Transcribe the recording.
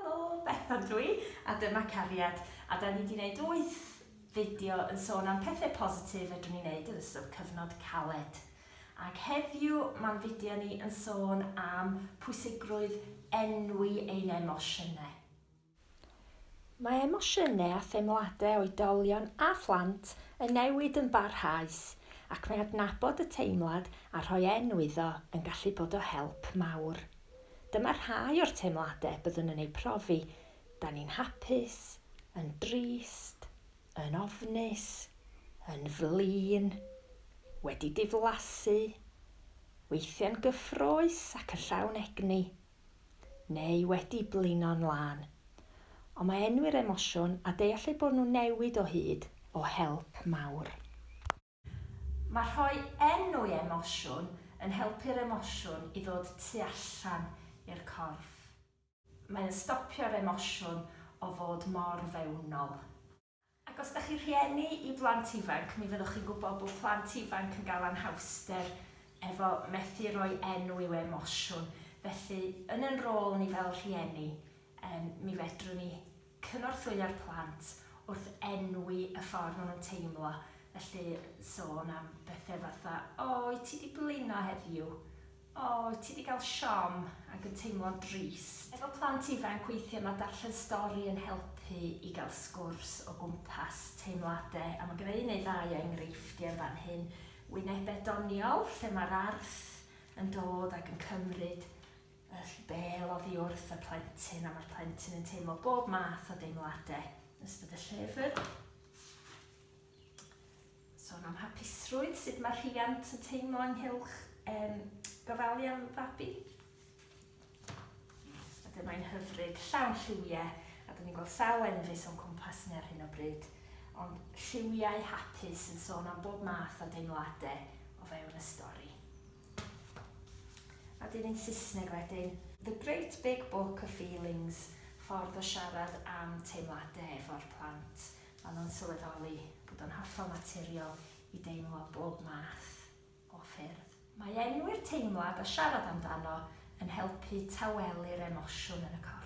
Helo, Bethan ydw i, a dyma Cariad, a da ni di wneud wyth fideo yn sôn am pethau positif fedrwn ni wneud yn ystod cyfnod caled. Ac heddiw mae'n fideo ni yn sôn am pwysigrwydd enwi ein emosiynau. Mae emosiynau a theimladau oedolion a phlant yn newid yn barhaus, ac mae adnabod y teimlad a rhoi enw iddo yn gallu bod o help mawr. Dyma rhai o'r teimladau byddwn yn eu profi, Da ni'n hapus, yn drist, yn ofnus, yn flin, wedi diflasu, weithiau'n gyffrous ac yn llawn egni. neu wedi blino'n lân. Ond mae enwi'r emosiwn a deall eu bod nhw'n newid o hyd o help mawr. Mae rhoi enw i emosiwn yn helpu'r emosiwn i ddod tu allan i'r corff. Mae'n stopio'r emosiwn o fod mor fewnol. Ac os dach chi'n rhieni i blant ifanc, mi fyddwch chi'n gwybod bod plant ifanc yn gael anhawster efo methu rhoi enw i'w emosiwn. Felly, yn yn rôl ni fel rhieni, yym, mi fedrwn ni cynorthwyo'r plant wrth enwi y ffordd maen nhw'n teimlo. Felly, sôn am bethe fatha, 'O, wyt ti 'di blino heddiw? O, ti 'di gael siom ac yn teimlo'n drist. Efo plant ifanc weithiau mae darllen stori yn helpu i gael sgwrs o gwmpas teimladau a mae gynna i un neu ddau o enghreifftiau yn fan hyn, wynebau doniol lle mae'r arth yn dod ac yn cymryd y bêl oddi wrth y plentyn a mae'r plentyn yn teimlo bob math o deimladau yn ystod y llyfr. Sôn am hapusrwydd, sut mae rhiant yn teimlo ynghylch um, gofalu am fabi. A dyma i'n hyfryd, llawn lliwiau, a dyn ni'n gweld sawl enfys o'n cwmpas ni ar hyn o bryd, ond lliwiau hapus yn sôn am bob math o deimladau o fewn y stori. A dyn ni'n Saesneg wedyn, The Great Big Book of Feelings, ffordd o siarad am teimladau efo'r plant. Maen nhw'n sylweddoli bod o'n hollol naturiol i deimlo bob math o ffyrdd. Mae enwi'r teimlad a siarad amdano yn helpu tawelu'r emosiwn yn y corff.